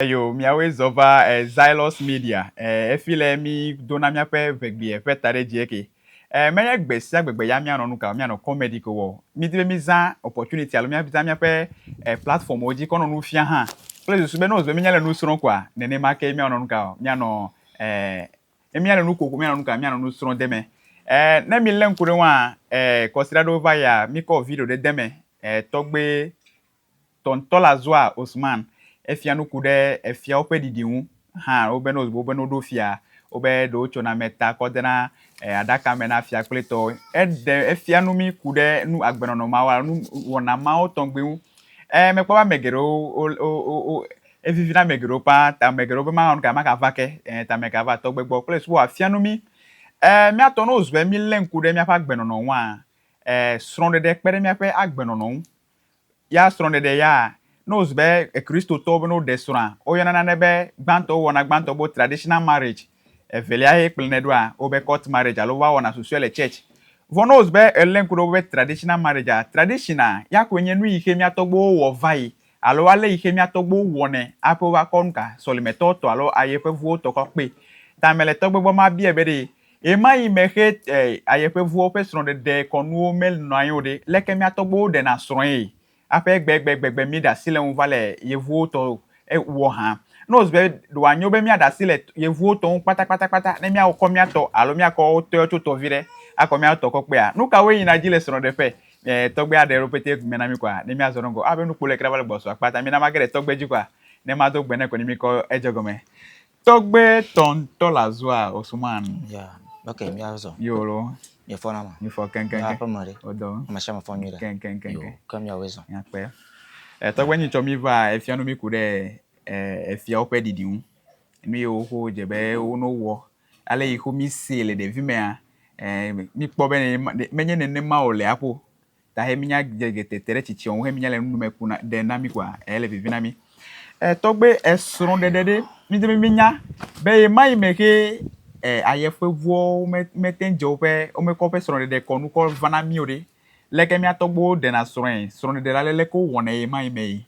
Eyo, miawoe zɔ va eh, Xylos Media eh, efi le mi do na miaƒe ʋegbea ƒe taɖedzi eke. Eh, menye gbe sia gbe gbe ya mianɔ nu ka o, mianɔ comedy ko wɔ o. Midi be mizã opportunity alo miazã miaƒe eh, platform wo dzi kɔ nɔ nu fia hã kple susu be ne wòzu be míale nu srɔ̃ koa, nenema ke míanɔ nu ka o, míanɔ eh, ne míale nu ko ko míanɔ nu ka, míanɔ nu srɔ̃ de me. Eh, ne milé ŋku ɖe eŋua eh, kɔsiɖa ɖewo va yia, mikɔ video ɖe de me eh, tɔgbe Tɔntɔ la zɔa Osman, efia nuku ɖe efiawo ƒe ɖiɖi ŋu hã, wobe ne wobe ne woɖo fia, wobe ɖe wotsɔna meta kɔ dena aɖaka me na fia kple etɔwo. Eɖe efia nu mí ku ɖe nu agbenɔnɔ mawo alo nu wɔna mawo tɔgbi ŋu. E mekpɔ be ame geɖewo wo wo wo wo evivi na ame geɖewo paa ta ame geɖewo be maxa nu ka maxa va ke e ta meka va tɔgbe gbɔ kple susu wòafia nu mí. E míatɔ ne wozɔe mílé ŋku ɖe míaƒe agbenɔnɔ ŋua e srɔ̃ɖeɖe kpe ɖe míaƒe agbenɔnɔ ŋu. Ya srɔ̃ɖeɖe ya, ne wòzu be Kristotɔwo be ne woɖe srɔ̃a, woyɔna nane be gbãtɔ, wowɔna gbãtɔ be traditional marriage, evelia ye kplɔnɛ ɖoa, wobe court marriage alo wova wɔna susɔe le church. Vɔ ne wòzu be elé ŋku ɖe wobe traditional marriage-a, tradition a, ya koe nye nu yi xe mía tɔgbuiwo wɔ vayi alo ale yi xe mía tɔgbuiwo wɔnɛ aƒe wova kɔ nuka, sɔlimetɔwo tɔ alo aye ƒe vuwo tɔ kɔ kpee. Ta mele tɔgbe gbɔ mabiae be ɖee Ɣemaɣi me xe ayeƒevuwo ƒe srɔ̃ɖeɖe kɔnuwo menɔ anyi o ɖe, leke mía tɔgbuiwo ɖena srɔ̃e hafi egbegbegbe míeɖe asi le eŋu va le yevuwo tɔ ŋuɔ hã? Ne wòzu be ɖe wòanyo be míaɖe asi le yevuwo tɔ ŋu kpatakpatakpata ne míakɔ mía tɔ alo míakɔ wo tɔ tso tɔ viɖe akɔ mía tɔ kɔkɔea, nu kawoe yina edzi le srɔ̃ɖeƒe? Tɔgbe aɖe ɖo pɛtɛ ŋkume na mí koa? Ne míazɔ ɖe ŋgɔ abe nukpolo ekra va le gbɔsɔsɔ akpa ta, mina mage ɖe tɔgbe dzi koa? Ne mado gbe nɛ ko ne míkɔ edze egɔme. Tɔgbe tɔ ŋtɔ la zua osman. Ya, ok mi azɔ. Yo lo. Mi fɔ na ma. Mi fɔ keŋ keŋ. Mi aƒe me ɖe. O dɔ. Ame sia me fɔ nyui ɖe. Keŋ keŋ keŋ. Yo, ke mi awoe zɔ. Mi akpe. E tɔgbe nyi tsɔ mi va efia nu mi ku ɖe e efia woƒe ɖiɖi ŋu. Nu yi wo xo dze be wo no wɔ. Ale yi xo mi se le ɖevi mea e mi kpɔ be ne menye nenema o le aƒo. tahe minya dze gete te ɖe tsitsia ŋu he minya le nuɖuɖu me ku na ɖe na mi kua ele vivi na mi. E, tɔgbe esrɔ̃ɖeɖe ɖe mi de minya be ye ma yi me ke e, ayeƒe vuwo mete ŋu dze woƒe womekɔ woƒe srɔ̃ɖeɖe kɔnu kɔ va na mi o ɖe leke mia tɔgbewo ɖena srɔ̃e srɔ̃ɖeɖe la leke wowɔnɛ ye ma yi me yi.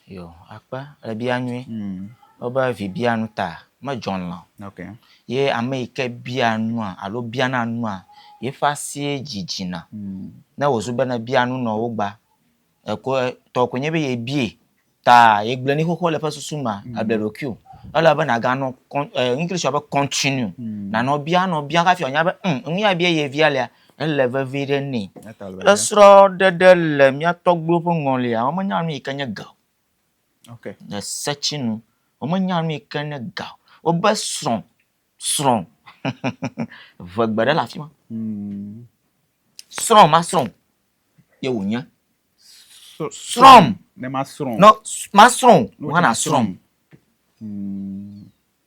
Yo, akpa le bia nyuie. Mm. Wobe vi bia nu ta medzɔn lɔ. Okay. Ye ame yi ke bia nua alo biana nua, yeƒe asie dzidzina. Mm. Ne wòzu be nebia nu nɔ wo gba, eko tɔ ko nye be yebie ta yegblẽ ni xoxo le eƒe susu mea, mm. eble ɖokui o. Ele be nàganɔ kɔn e English be continue. Mm. Nanɔ bia nɔ bia hafi wòanya be um nu ya bia ye via lea Ele vevi ɖe nɛ. Esrɔ̃ɖeɖe le mía tɔgbuiwo ƒe ŋɔlia, womenya nu yi ke nye ga o. Le setsinu, womenya nu yi ke nye ga o. Wobe srɔ̃, srɔ̃, eve gbe ɖe le afi ma. Srɔ̃ masrɔ̃ o ye wònye. Srɔ̃m. Ne masrɔ̃. Masrɔ̃ o, wò hã nàsrɔ̃m.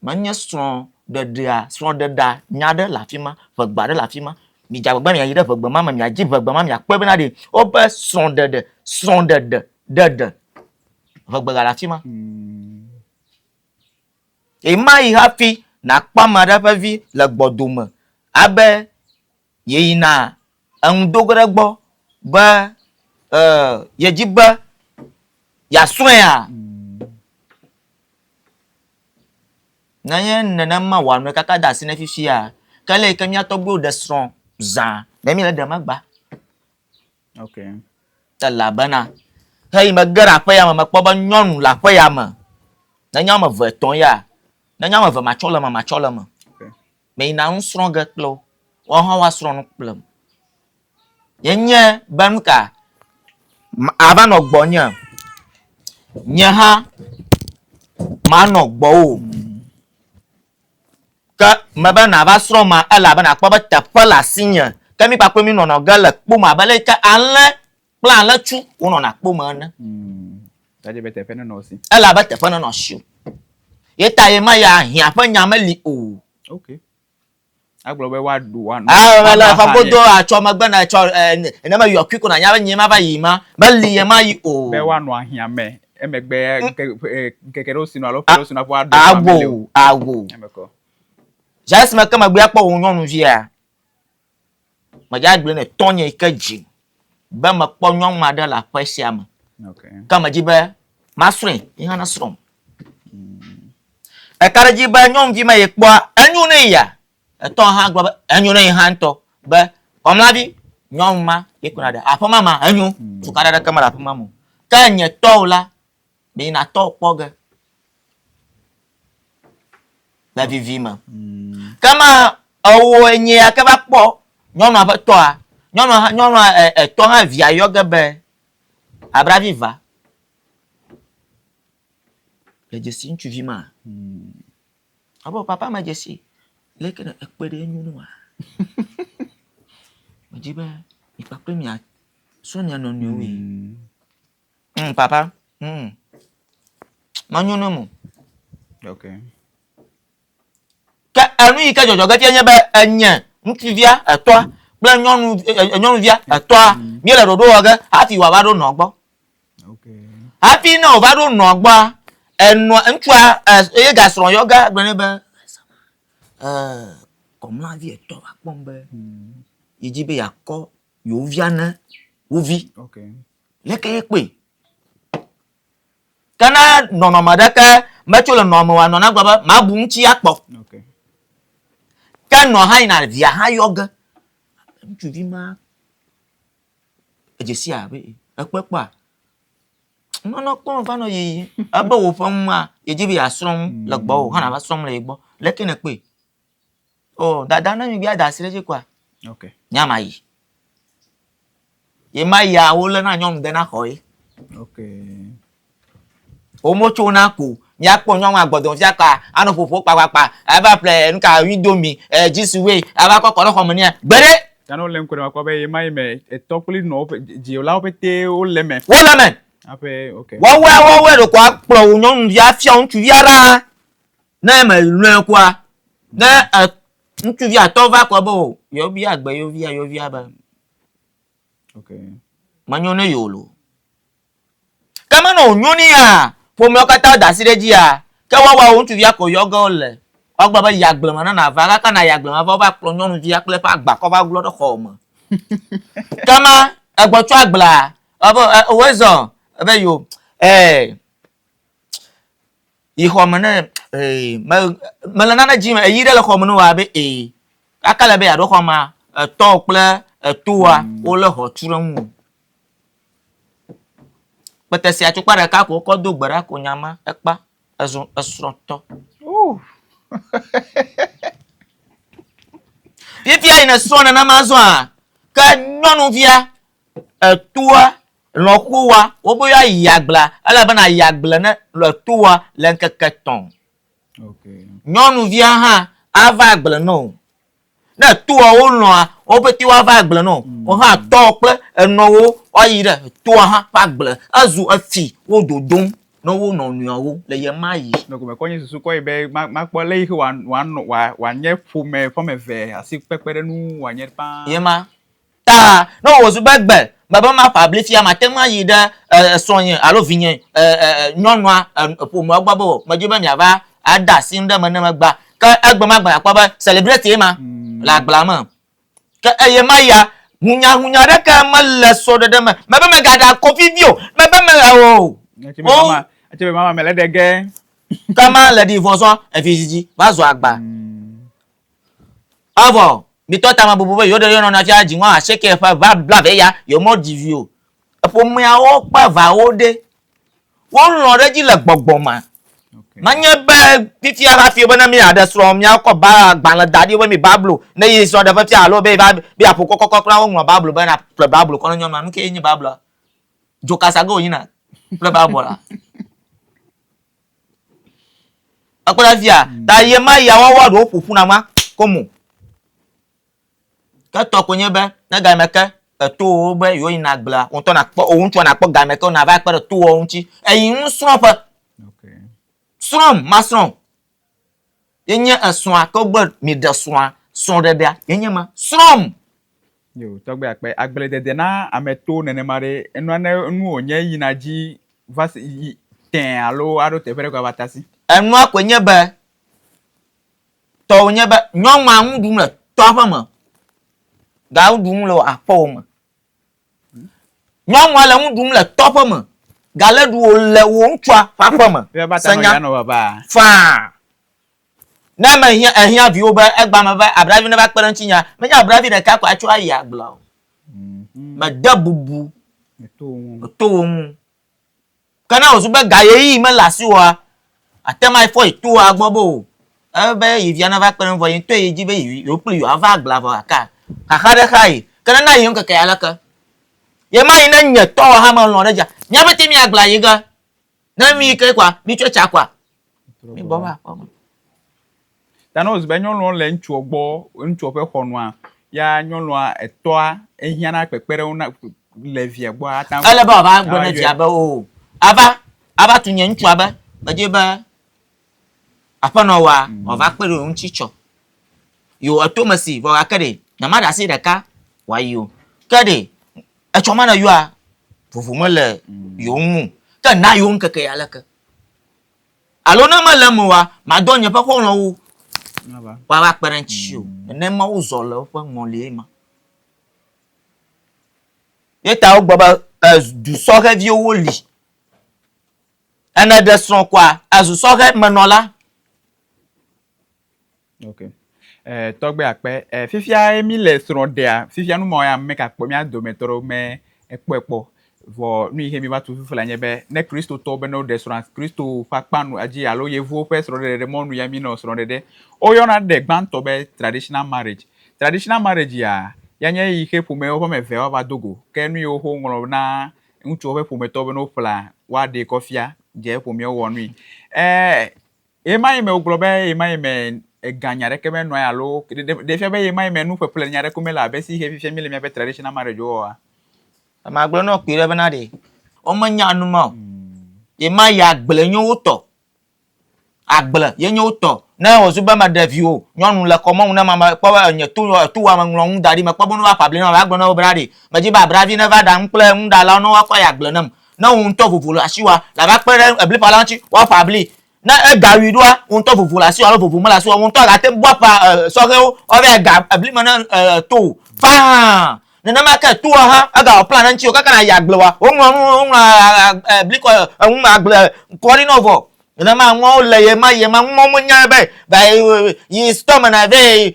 Menye srɔ̃ɖeɖea, srɔ̃ɖeɖea nya aɖe le afi ma, ŋegbe aɖe le afi ma. Midze agbagba miayi ɖe ŋegbe ma me, miadi ŋegbe ma miakpɔe bena ɖe woƒe srɔ̃ɖeɖe, srɔ̃ɖeɖe, ɖeɖe, ŋegbe gale afi ma. Ɣemaɣi hafi nàkpɔ ame aɖe ƒe vi le gbɔdome abe yeyina eŋu do ge ɖe egbɔ be e yedi be yeasrɔ̃ea? Nenye nenema wòanɔ eme kaka de asi na fifia. Ke ale yi ke mía tɔgbuiwo ɖe srɔ̃ zã ne míele ɖem egbea, elabena heyi mege ɖe aƒeya me mekpɔ be nyɔnu le aƒeya me, nenye woame eve, etɔ̃ ya, nenye woame eve matsɔ le eme, matsɔ le eme. Meyina nu srɔ̃ ge kple wo, woawo hã woasrɔ̃ nu kplem. Yenye be nu ka ava nɔ gbɔnye, nye hã manɔ gbɔwò. Ke mebe nàva srɔ̃ ma elabe nàkpɔ be teƒe le asinye. Ke mí kpakple mí nɔnɔ ge le kpo me abe leke alẽ kple alẽtsu wonɔna kpo me ene. Hmm. Ele abe teƒe nenɔ asi. Ele abe teƒe nenɔ asi o. Ye ta ye ma ya hiã ƒe nya meli o. Ok. Agblɔ be woaɖu woanɔ. Ele le eƒe godo atsɔ megbe na etsɔ ne me yɔ kui ko na nya be nyee ma va yi ma meli ye ma yi o. Be woanɔ ahiã me emegbe ŋkeke ɖewo si nɔ alo ƒe ɖewo si nɔ aƒe aɖo. Awo awo. Esi me ke megbea kpɔ wò nyɔnuvia. Medze agblɔe ne tɔnye yi ke dzim be mekpɔ nyɔnu aɖe le aƒe sia me. Ke medi be masrɔ̃e, ye hã nasrɔ̃m. Eka ɖe edzi be nyɔnuvi ma yekpɔa, enyo na eya. Etɔa hã gblɔ be enyo na ye hã ŋutɔ be kɔmlavi, nyɔnu ma ye ko nàɖe. Aƒe ma mea, enyo, tukaɖi aɖeke mele aƒe ma me o. Ke nye tɔwò la, Be natɔ kpɔ ge le vivi me. Mm. Ke ma ewò enyea ke va kpɔ nyɔnua ƒe tɔa. Nyɔnua hã nyɔnua e, etɔ hã via yɔ ge be abravi va. Le dzesi ŋutsuvi ma. Mm. Abo papa me dzesi. Leke ne ekpe ɖe enyo ne wa. Medzi be mi kpakple mia srɔ̃ mia nɔnɔewoe. Mm. Mm, papa. Mm. Manyo ne mo. Ok. Ke enu yi ke dzɔdzɔ ge tie nye be enye ŋutsuvia etɔa kple nyɔnu e, e, nyɔnuvia etɔa mm. mi le ɖoɖo wɔ ge hafi wòava ɖo nɔ gbɔ. Ok. Hafi ne wòva ɖo nɔ gbɔa enɔ ŋutsua eye gasrɔ̃ yɔ ge gblɔ nɛ be kɔmlavi etɔ va kpɔm be yidi be yakɔ yewo via ne wo vi. Ok. Leke ye kpɔe? Ke ne nɔnɔme ɖeke metso le nɔa me o, nɔa nagblɔ be mabu ŋuti akpɔ. Okay. Ke nɔa hã yina via hã yɔ ge. Ŋutsuvi ma edze sia be ekpɔ kpɔa nɔnɔ kpɔ va nɔ yiyi ebe wò ƒe nu ma yedi be yeasrɔ̃ nu le gbɔwò hã nàva srɔ̃ nu le ye gbɔ. Leke nèkpɔe? Oh, dada ne mibia da asi ɖe dzi kɔa? Ok. Nya ma yi. Ye ma yi a wole na nyɔnu de na xɔ ye. Ok. Omo tso na ko. Mia kpɔ nyɔnu agbɔdɔ fia ka ano ƒoƒo kpa kpa kpa. Ava ple nuka wi do mi e ji su we. Ava kɔ kɔ ɖe xɔ me nɛ. Gbere. Ta ne wole ŋkɔ ɖe akpɔ be ye ma yi me etɔ kple nɔ woƒe dzi la woƒe te wole me. Wole me. Aƒe ok. Wɔwɔe wɔwɔe ɖe ko akplɔ wo nyɔnu fia fia ŋutsu fia ɖa. Ne me lɔe kua, ne e ŋutsuvi atɔ va kɔ be o yewo via agbe yewo via yewo via be okay menyo ne yewo lo. Ke me ne wonyo ne yea ƒomeawo katã da asi ɖe edzia ke woawɔ wo ŋutsuvia ko yɔ ge wole. Woagblɔ be yi agbleme ne nàva kaka ne ayi agbleme va wova kplɔ nyɔnuvia kple eƒe agba kɔ va glɔ ɖe xɔwò me. Ke ma egbɔ tso agblea ebe e o ezɔ ebe yo e. yi xɔ me ne ee me mele nane dzim eyi ɖe le xɔ me ne wa be ee aka le be yeaɖo xɔ ma etɔ kple etoa wole xɔ tu ɖe ŋu o. Kpete sia tukpa ɖeka ko wokɔ do gbe ɖa ko nya ma ekpa ezu esrɔ̃tɔ. Ooh. Fifia yi ne srɔ̃ nenema zɔa ke nyɔnuvia Etoa lɔ̃xowoa, wobe yeayi agblea, ele be nàyi agble ne le toa le ŋkeke etɔ̃. Nyɔnuvia hã ava agble ne wò. Ne etoa wolɔ̃a, wo ƒete woava agble ne wò. Wò hã tɔ wò kple enɔwo woayi ɖe etoa hã ƒe agble. Ezu esi wo dodom ne wo nɔ nɔeawo le ɣemaɣi. Nɔ gome kɔ nye susu kɔe be makpɔ ale yi ke wòanɔ, wòanye ƒome ƒe ame eve asikpekpeɖeŋu wòanye ƒã. Yema. Ta, ne wòzu be gbe mebe maƒã bli fia, mate ŋu ayi ɖe srɔ̃nye alo vinye nyɔnua ƒomea gbɔ be, Medi be miava ade asi nu ɖe eme ne megbea. Ke egbe ma gbe nakpɔ be celebrate ye ma le agblea me. Ke eye ma ya, hunyahunya aɖeke mele srɔ̃ɖeɖe me. Mebe megaɖe akɔ vivi o. Mebe me, oo. Wo. Etse be mama mele ɖe ge. Ke ma le ɖi vɔ zɔ evi dzi va zɔ agba. Evɔ gbetɔ tame bubu be yewoɖe yewo nɔnɔewo tsia dziŋɔ asieke ƒe va blaeve eya yewomɔ dzi vi o. Eƒomeawo ƒe eveawo ɖe? Wolɔ̃ ɖe edzi le gbɔgbɔ ma. Menye be fifia hafi be ne miaɖe srɔ̃ miakɔ ba agbalẽ da ɖi be mi bablo ne yi srɔ̃ ɖe ƒe fia alo be va be yeaƒo kɔ kɔkɔ kple woŋlɔ bablo be na ƒle bablo kɔ ne nyɔnua. Nukae nye babloa? Dzokasa ge wonyina ƒle babloa. Ekpɔtɔ afia ta ye ma ya wa wa ɖo ƒo ƒu na ma ko mo. Ke tɔ ko nye be ne ga me ke eto wo be yo yi na gbla wo tɔ na kpɔ o ŋutsua na kpɔ ga me ke na va kpe ɖe to wo ŋutsi eyi ŋu srɔ̃ƒe. Srɔ̃m ma srɔ̃. Ye nye esrɔ̃a tɔgbe mi ɖe srɔ̃a srɔ̃ɖeɖea ye nye ma srɔ̃m. Yo tɔgbe akpe agble dede na ame to nenema ɖe enua ne enu wònye yina dzi va se yi tẽ alo aɖo teƒe ɖe ko ava tasi. Enua koe nye be tɔwò nye be nyɔnua nu ɖum le tɔa ƒe me ga nu ɖum le aƒewo me. Nyɔnua le nu ɖum le tɔƒe me gale ɖu wòle wò ŋutsua ƒe aƒe me. Se nya faa. Ne mehiã ehiã viwo be egba me va abravi neva kpe ɖe ŋutinyea, menye abravi ɖeka koe atsɔ ayi agblea o. Mede bubu to wo ŋu. Ke ne wòzu be gaɣeyiɣi mele asiwòa, àte ŋu afɔ yi toa gbɔ be o, ebe be yi via nava kpe ɖe eŋu vɔ ye ŋutɔ yi dzi be yewo kpli yewoava agblea vɔ gake xaxa ɖe xa yi. Ke ne na yi ŋkeke ya leke? Ye ma yi ne nye tɔwò hã melɔ̃ ɖe edzia? Mía ƒete míagblea yi ge. Ne mí ke kɔa, mí tsɔe tsa kɔa? Mi gbɔ va kpɔ me. Ta ne wòzu be nyɔnua le ŋutsua gbɔ, ŋutsua ƒe xɔnua, ya nyɔnua etɔa ehiã na kpekpeɖeŋu na le via gbɔ ata ŋu. Ele be wòava gblɔ ne via be o oh, ava ava tu nye ŋutsua be medie be aƒenɔ woa mm. wòava kpe ɖe wò ŋuti tsɔ. Yo eto me si vɔ gake ɖe nyama ɖe asi ɖeka wòayi o. Ke ɖe etsɔ ma ne yɔa vovo mele mm. yewo ŋu o. Ke na yewo ŋkeke ya leke. Alo ne mele eme oa, madɔ nye ƒe xɔlɔ̃wo woava kpe ɖe ŋutinye. Nenema wozɔ le woƒe ŋɔlie me. Ye ta wogblɔ be du sɔheviwo li. Ene ɖe srɔ̃ koa, ezu sɔhɛ menɔla. Ok. Eh, tɔgbe akpe, eh, fifia mi le srɔ̃ ɖea, fifia nu mɔ ya me ka kpɔ mia dome tɔrɔ me ekpɔe kpɔ. Vɔ nu yi xe mi va tu fifi la nye be ne Kristo tɔ be ne ɖe srɔ̃a Kristo ƒe akpa nu adzi alo yevuwo ƒe srɔ̃ ɖeɖe ɖe mɔ nu ya mi nɔ srɔ̃ ɖeɖe. Wo yɔna ɖe gbãtɔ be traditional marriage. Traditional marriage ya ya nye yi xe ƒomewo ƒe meve wa va do go. Ke nu yi wo xe wo ŋlɔ na ŋutsuwo ƒe ƒometɔ be ne wo ƒlea wa ɖe kɔ fia dze ƒomea wo wɔ nui. Eh, Ɣemaɣi me wogblɔ be ɣemaɣi me ega nya ɖeke me nɔa alo ɖe fia be ɣemaɣi me nu ƒeƒle nya ɖeke me le abe si xe fifia mi le miabe traditional marriage wo oa? Magblɔ nɔ kpuiɖe bena ɖe. Wo me nya nu ma o. Ɣemaɣi agble nyo wotɔ. Agble ye nyo wotɔ. Ne wo zu be me ɖe vi o, nyɔnu le kɔ mɔnu ne ma me kpɔ be enye to nyo eto wa me ŋlɔ nu daɖi me kpɔ be no va ƒabli nɔ ma gblɔ nɔ wo bena ɖe. Me dzi be abravi ne va ɖa nu kple nuɖalawo ne woa kɔ yi agble nɔm. Ne wò ŋutɔ vovo le asiwòa, nàva kpe ɖe ebliƒala ŋuti woaƒã bli. Ne ega wui ɖoa, wò ŋutɔ vovo le asiwòa alo vovo mele asiwòa o, wò ŋutɔ àgate ŋu aƒã sɔhɛwo woava ega ebli me ne to wò faa. Nenema ke toa hã, egawɔ plan ɖe ŋuti wò kaka nàyi agble wòa. Woŋlɔ nu, woŋlɔ bli kɔ ɖe enu me agble kɔ ɖi nɔ vɔ Nenema ŋuawo le yema yema ŋu mɔ menyae be ba yi store me na ve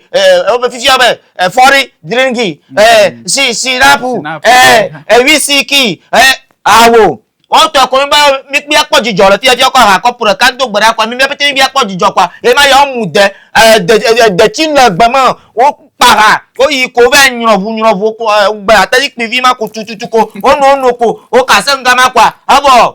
obe fifi obe fori drinki si si napu ewi si ki awo wọn tɔ kɔmi be mi kpi akpɔ dzidzɔ le fiya fiya kɔ ha kɔpu ɖeka do gbe ɖa kɔ mi mia pete mi akpɔ dzidzɔ kɔ yema ya wo mu de detsi le gbe me wo kpa ha wo yi ko va nyrɔ ʋu nyrɔ ʋu ko gbe ate kpi vi ma ko tututu ko wo nɔ wo nɔ ko wo ka se ŋgama kɔa evɔ.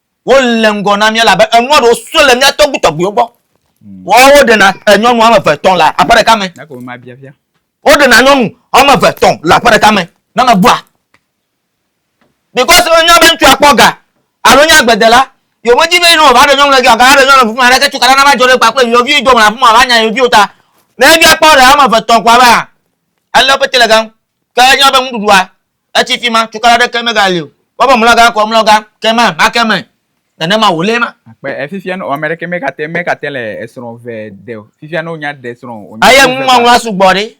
Wole ŋgɔ na mía elabe enyɔa ɖewo sue le mía tɔgbuitɔgbuiwo gbɔ. Hmm. Woawo ɖena enyɔnu woame eve tɔ̃ le aƒe ɖeka me. Woɖena nyɔnu woame eve tɔ̃ le aƒe ɖeka me ne mebua. Because wonya be ŋutsua kpɔ ga alo nye agbedela. Yewo medzi be ne wòva ɖe nyɔnu le gea, wògava ɖe nyɔnu le fima ɖeke tuka ɖe na madzɔ ɖe kpa kple yeviwo yi dome le afi ma wòava nya yeviwo ta. Ne evia kpɔ ɖe woame eve tɔ̃ kpɔ be ele eƒe te le ga ŋu. Ke enya be nuɖuɖua Etsi fi ma, tsukala aɖeke megali o. Woaƒe mlɔ gã kɔ mlɔ gã ke ma, make me. Nenema wòle ma. Kpe efifia no, ame aɖeke megate, megate le esrɔ̃ ve de o. Fifia no nya de srɔ̃ o. Eye nuŋɔŋlɔa sugbɔ ɖe?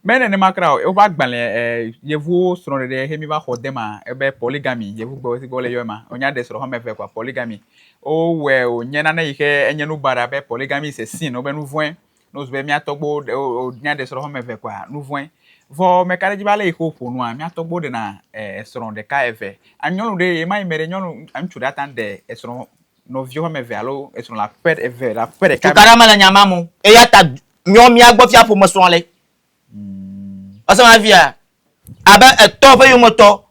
Me nenema kra o. Woƒe agbalẽ, e, Yevuwo srɔ̃ɖeɖe xe mi va xɔ de ma, ebe polygamy, Yevugbe si gbe wole yɔe ma. Wonya de srɔ̃ xɔme ve kɔa, polygamy. Wowɔe wònye nane yi xe enye nu baɖa be polygamy is a sin, wobe nuvɔ̃e. Ne wòzu be mía tɔgbuiwo ɖe wònya ɖe srɔ̃ eve koa, nu vɔ̃e. Vɔ meka ɖe edzi be ale yi ke woƒo nua, mía tɔgbuiwo ɖena srɔ̃ ɖeka, eve. Nyɔnu ɖe, ɣemaɣi me ɖe, nyɔnu, ŋutsu ɖe ate ŋu aɖe srɔ̃ nɔviwo ame eve alo srɔ̃ le aƒe eve, le aƒe ɖeka me. Tukaɖa mele nya ma me o. Eya ta nyo mía gbɔ fia ƒomesrɔ̃ le. Ese ma fia? Abe etɔ ƒe yometɔ,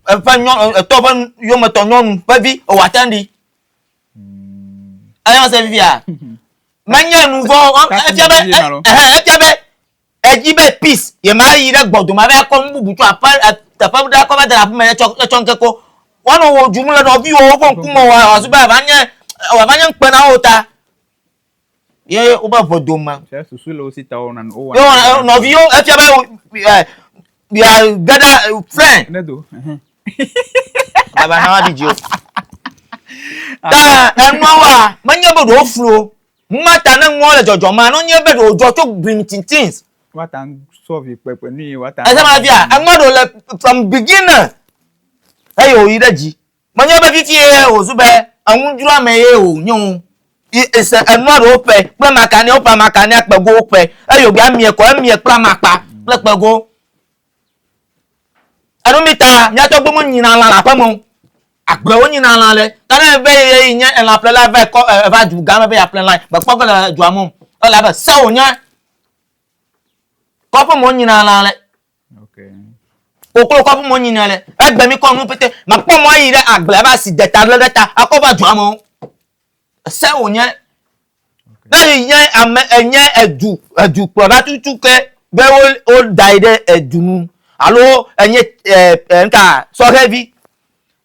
eƒe nyɔ, etɔ ƒe yometɔ nyɔnu ƒe vi, ewɔa te ŋɖi. Eya se fifia. Menye nu vɔ o. Efia be efia be edzi be peace ye ma yi ɖe gbɔdo ma be akɔ nu bubu tso aƒe teƒe ɖe akɔ va de aƒe me etsɔ etsɔ ŋke ko. Wɔnɔ wò dzum le nɔviwò woƒe ŋkume wɔ asu be ava nye wòava nye ŋukpe na wo ta. ye wobe vodome. Sɛ susu le wo si ta wo nan wo wa. Yo eh, nɔvi yo efia be eh, we are gather eh, friend. Ne do. mhm. Baba na wa video. Ta enua wa menye be ɖewo flu o. Numa ta ne nua le dzɔdzɔ ma no nye be ɖewo dzɔ tso brim tintins. Wa ta sɔ vi kpekpe nu ye wa ta. Ese ma fia enua ɖewo le from beginner. Eye wòyi ɖe dzi. Menye be fifi ye wòzu be eŋudzroame ye wònye o. Yi ese enua ɖewo ƒe kple makania, woƒã makania kpegowo ƒe, eye wògbe amie kɔ emie kple amakpa kple kpego. Enu mi ta mía tɔgbuiwo menyina lã le aƒe me o. Agblewo nyina lã le, ta ne ebe ye yi nye elãƒlela va kɔ e, va du gã me be yeaƒle lãe, mèkpɔ ge le dua me o, elabe sewo nye. Kɔƒe me wonyina lã le. Koklo kɔ ƒu mo nyi nɔ le egbe mi kɔ nu pete ma kpɔ mɔ ayi ɖe agble va si deta ɖe ɖe ta akɔ va dua me o. Ese wo nye ne yi nye ame enye edu edu kplɔ ɖa tutu ke be wo wo da yi ɖe edu nu alo enye e e ŋka sɔhɛvi.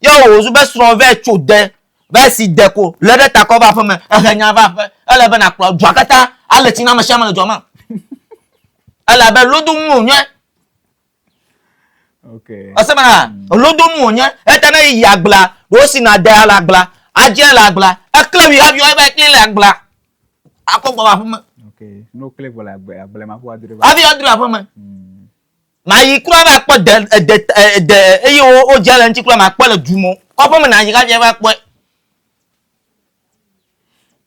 Ye wòzu be srɔ̃ vɛ tso de, be esi de ko lé ɖe ta kɔ va aƒe me, ehe nya va aƒe. Ele be nàkplɔ dua katã ale tsi na ame sia ame le dua me. Elabe lo dom nu wònye. Okay. Ese me na, lo dom nu wònye. Eta ne yi agblea, ɖo esi nàde le agblea, adze le agblea, ekle wi hafi woava kli le agblea, akɔ gbɔ va aƒe me. Okay. Ne wokli gbɔ le agblea, agblea ma ƒe woadri va. Hafi woadri aƒe me. Hmm. Mayi kura va kpɔ de de de eye wodze le ŋuti kura makpɔ le du mo. Kɔƒe me nayi kafia va kpɔe.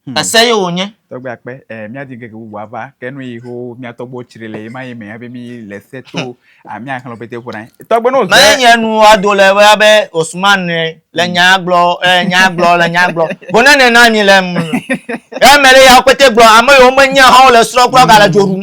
Hmm. Ese ye wònye. Tɔgbe akpe ɛ eh, míadi ŋkeke bubu ava ke nu yi ho mía tɔgbewo tsri le yi ma yi me hafi mi le se to amia xlɔ pete ƒo na tɔgbe no ze. Mɛ nye nu ado le be abe Osman ne le hmm. nya gblɔ ɛ eh, nya gblɔ le nya gblɔ bo ne nena mi le mu. Ɛ mɛ le ya pete gblɔ ame yi wo me nya ha wo le srɔ kura ga le dzoru.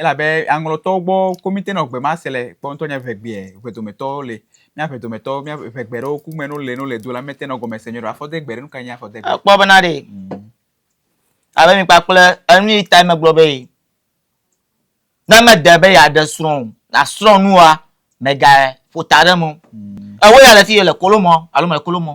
Elabe aŋlɔtɔwo gbɔ komite nɔ gbe ma se le kpɔ ŋutɔ nye ŋɛgbeɛ ŋɛ domɛtɔ le. Mía ŋɛ domɛtɔ mía ŋɛgbe ɖewo ku mɛ no le no le do le amɛ te nɔ gɔmɛ se nyɔɖe afɔ de gbe ɖe nuka nyi afɔ de gbe. Ekpɔ bena ɖe abe mi kpakple enuyi tae me gblɔ be yi ne me de be ya ɖe srɔ̃ o na srɔ̃ nu woa me ga ƒo ta ɖe me o. Ewoe ya le fiye le kolo mɔ alo me le kolo mɔ.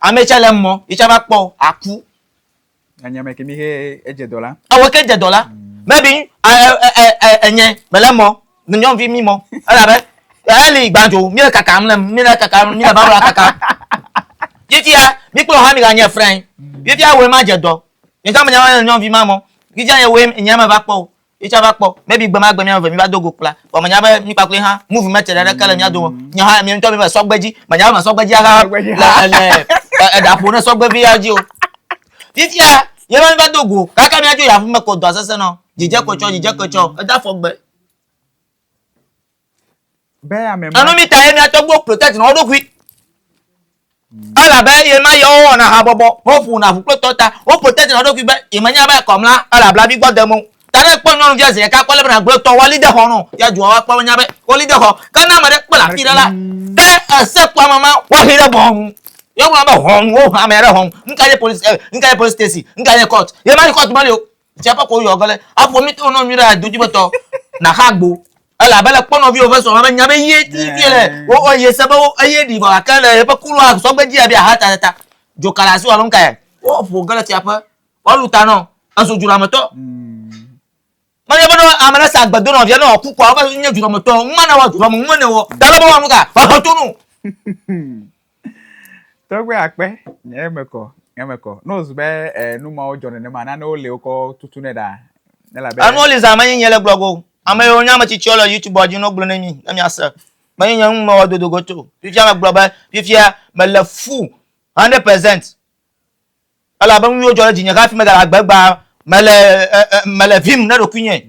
Ame tsa le mɔ yitsa va kpɔ aku. Anyame ke mi he edze dɔ la. Ewe ke dze dɔ la. Maybe enye me le mɔ ne nyɔnvi mi mɔ ela be eli gbanjo mi le kaka mi le mi le kaka mi le babla kaka. Yifia mi kple ha mi la nye frein. Yifia we ma dze dɔ. Yitsa me nyɔnvi ma mɔ yitsa ye we nye me va kpɔ. Mitsɔ va kpɔ, maybe gbe ma gbe mía eve míva do go kpla, vɔ menya be mí kpakpli hã, move match ɖe ɖeke le mía dome o. Nye hã mía ŋutɔ míeva sɔgbe dzi, menya be masɔgbe dzi ahaha le le eɖa ƒo ne sɔgbe vi ya dzi o. Fifia, ye va míva do go, kaka míadzo yi aƒeme ko dɔa sesẽ nɔ, dzidze ko tsɔ, dzidze ko tsɔ, eda fɔgbe. Be ame ma. Enumi tae mía tɔgbuiwo protektna wo ɖokui? Elabe yema ye wowɔna habɔbɔ, woƒona ʋu kple tɔta. Wo protektna wo ɖokui be yemenya be ekɔ mla ele ablavi gbɔ dem o. Ta ne ekpɔ nyɔnuvia zi ɖeka kpɔ ale bena gbletɔ woali de xɔ nɔ ya dua woakpɔ woanya be woli de xɔ. Ke ne ame ɖe kpe le afi ɖe la, ke ese kpɔ ame ma woaxee ɖe ʋɔnu. Yewogblɔna be ʋɔnu, wohe amea ɖe ʋɔnu. Nukae nye polisi, eh, nukae nye polisi stesi, nukae nye kɔt? Yema dzi kɔt meli o. Tia pa ko yɔ gele. Afo mi to no mi ra do ji beto. Na ha gbo. Ela bele kpɔ no vi o veso be nya be ye ti ti le. Wo o ye se be o ye di ba ka le be kulu a so gbe ji abi a ha ta ta. Jo kala si wa lon ka ya. Wo fo gele tia pa. Wa lu ta no. Aso ju la me to. Ma ye be no a me le sa gbe do no vi a no ku kwa ba nye ju la me to. Ma na wa ju la me mo ne wo. Da le bo wa nu ka. Wa ho to no. Tɔgbe akpe, nye me kɔ, nye me kɔ. Ne wòzu be eh, nu mawo dzɔ nenema, nanewo li wokɔ tutunɛ ɖaa. Elabe. Enuwo li zã menye nyee le gblɔ go o. Ame yiwo nye ame tsitsiwo le Youtubea dzi no gblɔ ne mí ne míase. Menye nye ŋu mewɔ dodogoto o. Fifia megblɔ be fifia mele fu hundred percent. Elabe nu nyuiwo dzɔ ɖe dzinye hafi megale agbe egbea, mele, e, e, mele vim ne ɖokuinye.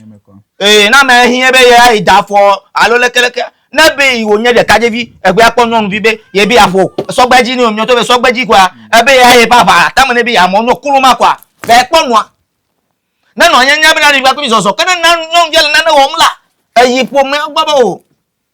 Ee, ne ame hiã be yeayi da afɔ alo lekeleke, ne be wònye ɖekadzevi, egbe akpɔ nyɔnuvi be yebe yeaƒo sɔgbe dzi nɛ wònyɔ to be sɔgbe dzi kɔa, ebe yeayi eƒe aʋa tame nɛ be yeamɔ nyɔ kolo ma kɔa, gaye kpɔ nɔa. Ne nɔa nye nya be na ɖevi kpakpe zɔzɔ, ke ne na nyɔnuvia le nane wɔm la, eyi ƒomea gbɔ be o.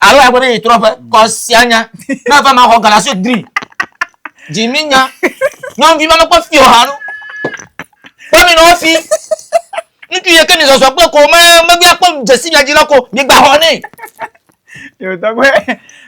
Alo ya gbɔdɔ yi trɔ ƒe kɔ sia nya. Ne eva ma xɔ galasio dri. Dzi mi nya. Nyɔnuvi ma mekpɔ fi o ha no. Kpɔ mi nɔ fi. Ŋutsu yɛ ke mi zɔzɔ kple ko me me via kpɔ dzesi mia dzi la ko mi gba xɔ ne. Yo tɔgbe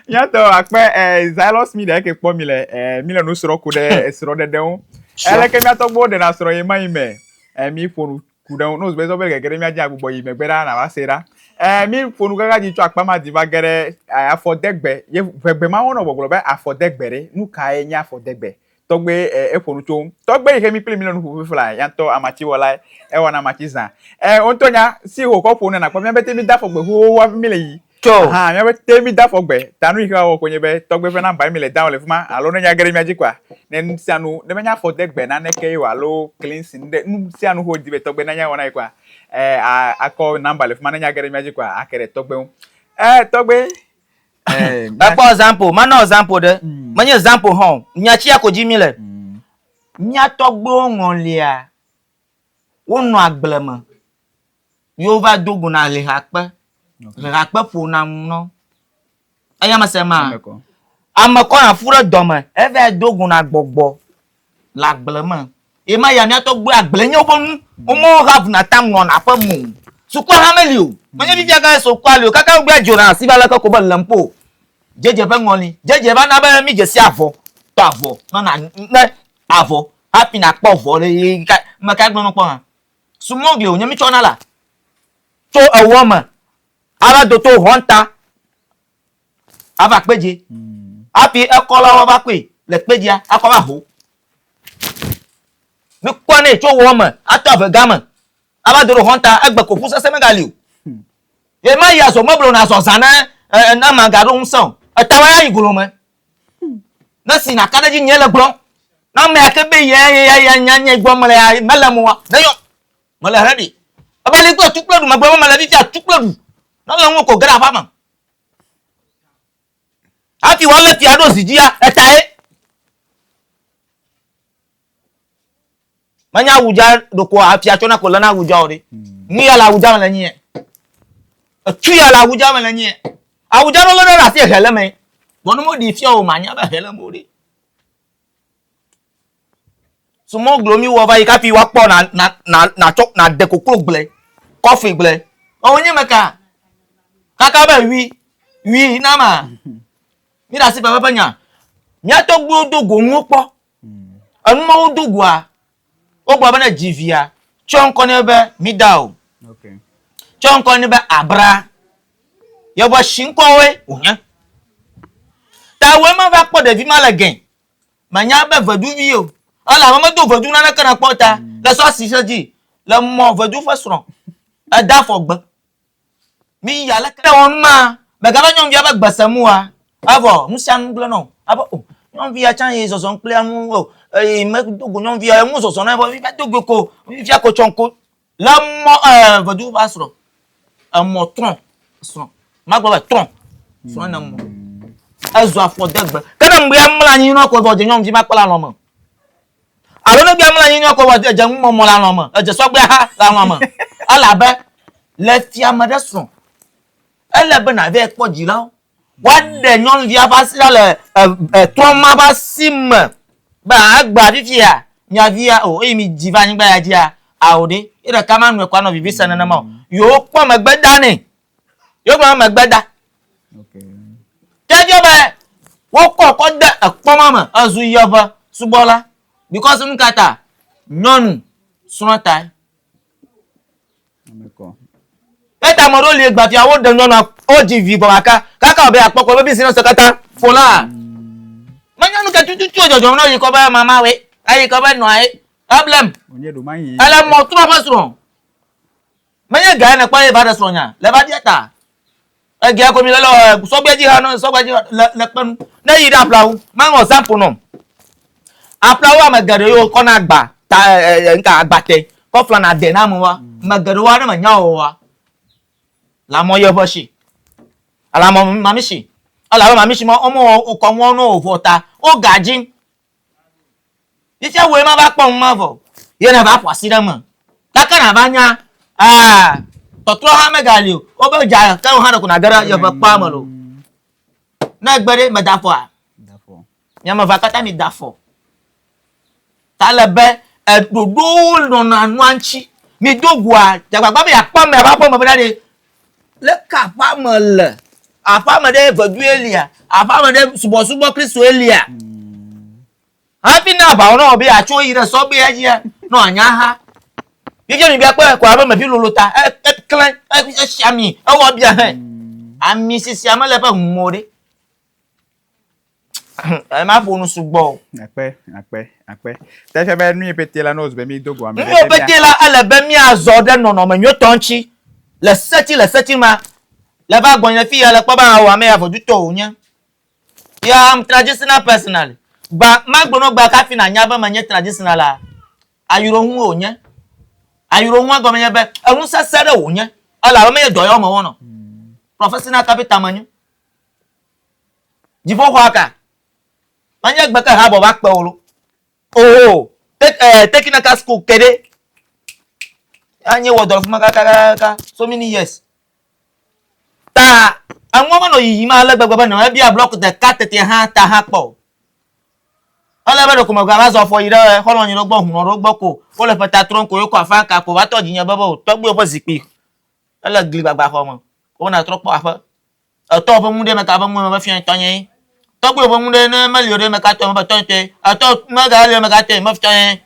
ya tɔ akpe eh Xylos mi ɖe ke kpɔ mi le eh mi le nu srɔ ku ɖe esrɔ ɖeɖe ŋu. Ele ke mia tɔgbewo ɖe na srɔ ye ma yi me. Eh mi ƒonu ku ɖe ŋu. Ne wòzu be ezɔ be gege ɖe mía dzi agbugbɔ yi megbe ɖaa nàva see ɖa. Ɛɛ mí ƒo nu kaka dzi tso akpa ma dzi va ge ɖe afɔdegbe. Ye ƒe gbe mawo nɔ gbɔgblɔ be afɔdegbe ɖe. Nu kae nye afɔdegbe? Tɔgbe ɛɛ eƒo nu tso ŋu. Tɔgbe yi xe mí kple mi le nu ƒom fifla ya ŋutɔ amatsi wɔlae. Ewɔna amatsi zã. Ɛɛ wò ŋutɔ nya si wò kɔ ƒo nɛ nàkpɔ. Mía be te mí de afɔgbe xoxoxo hafi mí le yiyi. Tsɔ. Aha, míaƒe te mí da fɔ gbe. Ta nu yi xe wɔ wɔ koe nye be tɔgbe ƒe namba ye mí le down le fima alo ne nya ge ɖe mía dzi kɔa, ne nu sia nu, ne menye afɔ de gbe nane ke ye o alo cleansing nuɖe, nu sia nu wodi be tɔgbe nanya wɔ na ye kɔa, e, a, akɔ namba le fima ne nya ge ɖe mía dzi kɔa, ake ɖe tɔgbe ŋu. E, tɔgbe, e, mía. Ekpɔ example, mana wò example ɖe. Mm. Menye example hã o. Nya tsia ko dzi mí le. Mm. Mía tɔgbewo ŋɔlia. Wonɔ agble me ye wova do go na ʋehakpe. Ʋehakpe ƒona nu na wo. Eya me se ma? Ame kɔ na fu ɖe dɔme heva do go na gbɔgbɔ le agble me. Ye ma ya mía tɔgbuiwo agble nye woƒe nu. Womɔ wohavna ta ŋlɔ na aƒe me o. Sukua hã meli o. Menye fifia ke sukua li o. Kaka ŋgbe ya dzo na asi va le ke ko be lem kpo o. Dzedze ƒe ŋɔli. Dzedze va na be mí dze si avɔ. Tɔ avɔ nɔna ne Avɔ hafi nàkpɔ avɔ ɖe ye ka ame kae gblɔ na wò kpɔ hã? Sumɔgli wònye mítsɔ na la. Tso ewɔ me ava do to hɔn ta ava kpe dzie hafi ekɔlawo ava kɔe le kpe dzia akɔ ava ho. Míkpɔnɛ tso wɔ me ato ave gã me ava do ɖe hɔn ta egbe ko ƒu sesẽ megali o. Ɣemaɣi azɔ meblo o nàzɔ zã ne nama gaɖo ŋusẽ o. Etawɔe ayi golo me. Ne si na kaɖedzi nye le gblɔm na ame yake be ya ya ya nya nya gblɔm le ya mele mo wa ne yɔ mele ready ebe li kple tu kple ɖu megblɔ be mele fifia tu kple ɖu ne le ŋu ko ge ɖe aƒa me hafi wa le fia ɖo zi dzia eta ye Menye awudza ɖoko afia tsɔ na ko lena awudza o ɖe. Nu ya le awudza me le nyie. Etu ya le awudza me le nyie. Awudza ɖo lena asi ehe le me. Bɔnu mo ɖi fia o ma nya be ehe le me o ɖe. Sumo glo mi wɔ va yi kafi wa kpɔ na na na na tsɔ na de koklo gble. Kɔfi gble. Ɔwɔ nye me ka. Kaka be wi wi na ma. Mi ɖe asi pɛpɛpɛ nya. Mia tɔgbuiwo do go nuwo kpɔ. Enu ma wodo goa, wogblɔ be ne dzi via, tsɔ ŋkɔ nɛ be Midao. Okay. Tsɔ ŋkɔ nɛ be Abra. Yewoƒe si ŋkɔwoe wònye. Ta woe meva kpɔ ɖevi ma le gɛ. Menya be vedu vie o. Elabe medo vedu naneke na kpɔ o ta, le sɔ si se dzi le mɔ vedu ƒe srɔ̃. Eda afɔ gbe. Miya leke nèwɔ nu ma? Mègava nyɔnuvia ƒe gbe sem oa? Evɔ nu sia nu gblẽ na wò. Abe, O, nyɔnuvia tsã ye zɔzɔm kple ame ŋu, eye medo go nyɔnuvia o, eŋu zɔzɔ na ye vɔ mi va do goe ko, mi fia ko tsɔm ko. Le mɔ eve duu va srɔ̃. Emɔ trɔ̃ srɔ̃. Magblɔ be trɔ̃ srɔ̃ ne mɔ. Ezu afɔ de gbe. Ke ne ŋgbea mlɔ anyi nɔ ko vɔ dze nyɔnuvi ma kple alɔme o. Alo ne bia mla nyi nyɔkɔ wa edze ŋu mɔmɔ la lɔme, edze sɔgbea ha la lɔme. Ele abe le fia me ɖe srɔ̃. Ele be na vɛ kpɔ dzilawo. Wa ɖe nyɔnuvia va si la le etrɔ ma va si me. Be a gba fifia mia via o eyi mi dzi va anyigba ya dzia, ao ɖe. Ye ɖeka ma nɔe kɔ anɔ vivi se nenema o. Yo kpɔ megbe da nɛ. Yegblɔ be megbe da. Ke dze be wokɔ kɔ de ekpɔ ma me ezu yeʋe subɔla because nu ka ta? Nyɔnu srɔ̃ tae. Eta ame ɖewo li egba fia woɖe nyɔnua wodzi vi gɔme gake kaka wòbe yeakpɔ kɔ eƒe business katã fo la menye nu ke tututu dzɔdzɔm na yikɔ be mama we eyikɔ be nɔa ye eblem ele mɔ trɔ eƒe srɔ̃. Menye gae nèkpɔ eye va ɖe srɔ̃nya le va bia ta egea ko mi le lɔ eh, sɔgbia dzi ha no sɔgbia dzi le le kpenu ne yi ɖe aplawu maŋ ɔzan ko nom aplawu ame geɖe yo kɔ na agba ta eh, eh, nka agba te kɔ flan ade na ame wa ame geɖe wa ne me nya o wa la mɔ ye ƒe shi ala mɔ mami shi ala mami shi mɔ ɔmɔ o kɔ mɔ no o vɔ ta o gadzi Fifia wòe mava kpɔ nu mavɔ o, ye nàva ƒo asi ɖe eme kaka nàva nya aa tɔtrɔ hã megali o. Wobe dza ke wò hã ɖeko nàge ɖe yeƒe kpɔa me loo. Ne egbe ɖe meda afɔa? Mia me evea katã mida afɔ. Ta ele be ɖoɖowo nɔna nua ŋuti. Mido goa, dze agbagba be yeakpɔ ame le aƒeme be ɖaɖɛ Leke aƒea me le? Aƒea me ɖe veviwoe lia? Aƒea me ɖe subɔsubɔ Kristoe lia? Hafi ne aʋawɔla wɔ be yeatso yi ɖe sɔgbea dzia, nɔ anya exa. Míetsɔ mi be akpɔe akoe abe mevi lolo ta. Eklẽ, esi ami, ewɔ bia hẽ. Ami sisia mele eƒe ŋu me o ɖe? Ema ƒo nu sugbɔ o. Akpe, akpe, akpe. Tefia be nu yi pete la, ne wòzu be mi do go ame. Nu yi pete la, ele be miazɔ ɖe nɔnɔme nyuitɔ ŋuti le seti le seti ma. Le va gbɔnye le fi ya le kpɔ be aa wò ame ya vɔdu tɔ wò nye. You are am traditional personal. Gba ma gblɔ no gba kafi na nya be me nye traditional a. Ayro ŋu wò nye. Ayro ŋua gɔme nye be enu sese ɖe wò nye. Ela be me ye dɔ ya wò me wɔnɔ. Professional carpenter me nyo. Dziƒoxɔa ka? Menye gbe ke habɔbɔ akpe wò lo. Oh, te, uh, technical school ke ɖe. Anye wɔ dɔ fuma kakakaka, so many years. Ta, eŋua menɔ yiyim ale gbegbe be nɔ ebia blɔk ɖeka tete hã ta hã kpɔ. Ele be ɖeko megbe ava zɔ afɔ yi ɖe xɔlɔnyi ɖewo gbɔ, hunɔ ɖewo gbɔ ko, wole ƒeta trɔm ko, yokɔ afã ka ko, va tɔ dzinye be be o, tɔgbuiwo ƒe zikpui, ele gli gbagba xɔ me, wona trɔ kpɔ aƒe. Etɔwò ƒe nu ɖe meka be nue me be fia ŋutɔ nye? Tɔgbuiwò ƒe nu ɖe ne meli o ɖe meka tɔe me be tɔe ŋutɔe? Etɔ mega li o ɖe meka tɔe me tɔe nye?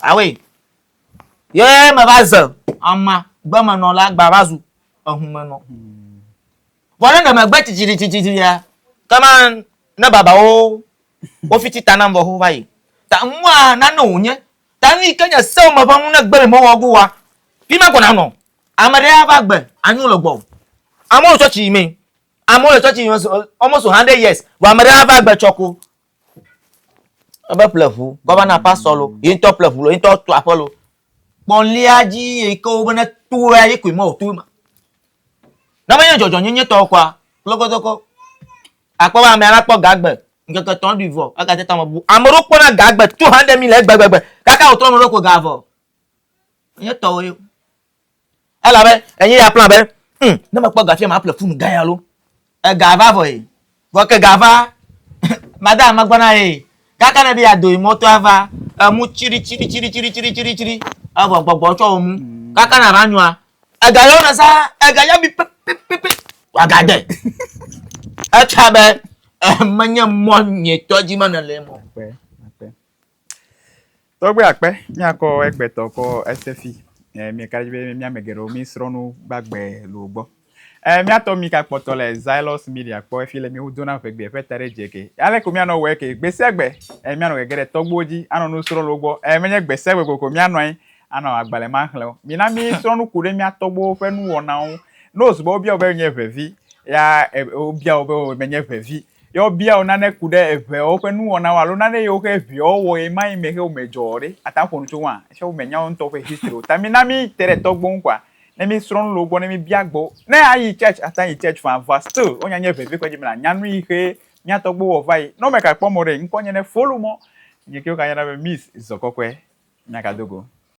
Awɔe. Ye meva ze ama gbemenɔ la gba va zu ehumenɔ. Vɔ ne ɖe megbe tsitsitsitsitsitsiaa, kema ne babawo wofiti ta nam vɔ xoxo va yi. Ta nua nane wònye. Ta nu yi ke nye sewo me ƒe nu ne gbe le mɔwɔwɔ goa, fi ma ko nànɔ. Ame ɖe ava gbe anyo le gbɔwò. Amewo le tsɔtsi yi mee. Amewo le tsɔtsi yi me almost for hundred years. Vɔ ame ɖe ava gbe tsɔko. Ebe ƒle ʋu. Gɔvana pastor lo. Ye ŋutɔ ƒle ʋu lo. Ye ŋutɔ tu aƒe lo. Kpɔlia dzi yi ke wobe ne tua ye koe me wòtui ma. Ne menye dzɔdzɔnyenye tɔwo kɔa, klokotoko. Akpɔ be amea nakpɔ ga gbe. Ŋkeke etɔ̃ ɖui vɔ ega te ta me bu. Ame ɖewo kpɔna ga gbe two hundred million egbegbe gbe. Kaka wòtrɔ megbe ko ga vɔ. Nye tɔwoe. Elabe enye ya plan be, Hm, ne mekpɔ ga afia maƒle fu nu gãe alo. Ega va vɔ ye. Vɔ ke ga va, made amagbɔ na ye. Kaka ne be yeadoe mɔto ava, emu tsiritsiɖitsiɖitsiɖitsiɖitsiɖi, evɔ gbɔgbɔ tsɔ wo mu. Kaka ne ava nyoa, ega yɔ na sãa, ega yɔ mi pɛpɛpɛpɛ. Wòaga de. Etsɔa be, eh, menye mɔ nyetɔ dzi menɔ le eme o. Tɔgbe akpe míakɔ egbetɔ kɔ ese fi e míeka dzi be mí ame geɖewo mísrɔ̃ nu gbagbe loo gbɔ. E míatɔ mi gakpɔtɔ le Xylos Media kpɔ efi le míwo dona ƒegbe ƒe ta ɖe dze ke. Ale ko míanɔ wɔe ke gbe sia gbe e míanɔ gege ɖe tɔgbuwo dzi anɔ nu srɔ̃ le wo gbɔ. E menye gbe sia gbe ko ko míanɔ anyi anɔ agbale ma xlẽ o. Mina mísrɔ̃ nu ku ɖe mía tɔgbuiwo ƒe nuwɔnawo ŋu. Ne wozu be wobia wò be wò nye ʋevi ya e wobia wò be wò menye ʋevi Yɔ bia wo nane ku ɖe eŋɛwo ƒe nuwɔnawo alo nane yewo xe ŋɛwo wɔ ɣe ma ɣi me xe wo me dzɔ ɔ ɖe, ata ƒonu tso ŋua? Etsɛ wo me nyawo ŋtɔ ƒe history wo ta mi na mi te ɖe tɔgbe wo ŋu kua ne mi srɔ̃ nu le wo gbɔ ne mi bia gbe wo. Ne a yi church ata yi church faa vɔa still wo nya nye ŋɛve kɔdzi mena nya nu yi xe mia tɔgbe wo wɔ vayi. Ne ame ka kpɔ mɔ ɖe ŋkɔ nye ne folu mɔ nye kewo ka yɔna be Miss Zɔkɔkɔɛ mia ka do go.